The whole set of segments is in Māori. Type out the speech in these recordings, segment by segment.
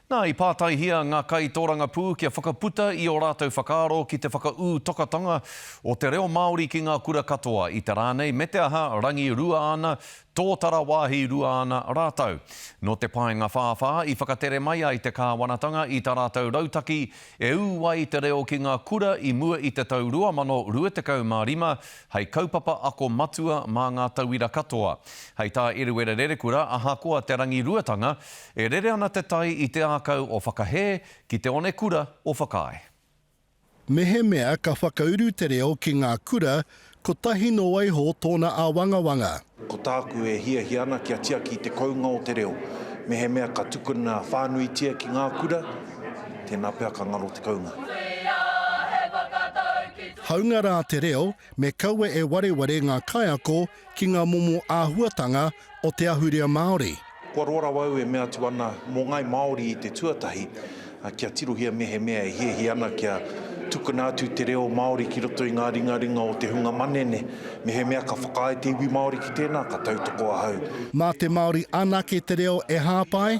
Nā, i pātaihia ngā kaitōrangapū kia whakaputa i ō rātou whakaaro ki te whakaū tokatanga o te reo Māori ki ngā kura katoa, i te rā nei me te aha, rangirua ana, tōtara wāhi rua ana rātou. Nō te paenga whāwhā i whakatere mai ai te kāwanatanga i tā rātou rautaki e ū ai te reo ki ngā kura i mua i te tau 2025 hei kaupapa ako matua mā ngā tauira katoa. Hei tā Eruera Rerekura, ahakoa te rangiruatanga, E rere ana te tai i te ākau o Whakahē ki te one kura o Whakaae. Mehemea ka whakauru te reo ki ngā kura, kotahi nō waiho tōna āwangawanga. Ko tāku e hiahia ana kia tiaki te kounga o te reo, mehemea ka tukuna whānuitia ki ngā kura, tēnā pea ka ngaro te kounga. Hāunga rā te reo, me kaua e wareware ngā kaiako ki ngā momo āhuatanga o te ahurea Māori. Kua roa rawa au e mea atu ana mō Ngāi Māori i te tuatahi kia tirohia mehemea e hiahia ana kia tukuna atu te reo Māori ki roto i ngā ringaringa o te hunga manene. Mehemea ka whakaae te iwi Māori ki tēnā, ka tautoko ahau. Mā te Māori anake te reo e hāpai,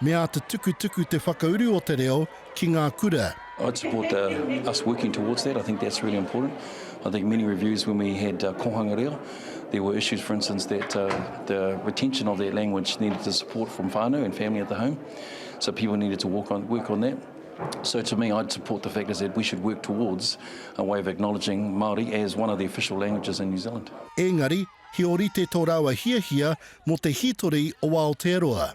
Me āta tukutuku te whakauru o te reo ki ngā kura. I'd support the us working towards that, I think that's really important. I think many reviews when we had Kohanga Reo, there were issues for instance that the retention of that language needed the support from whānau and family at the home, so people needed to work on that. So to me I'd support the fact is that we should work towards a way of acknowledging Māori as one of the official languages in New Zealand. Engari, he orite to rawa hiahia mo te hitori o Aotearoa.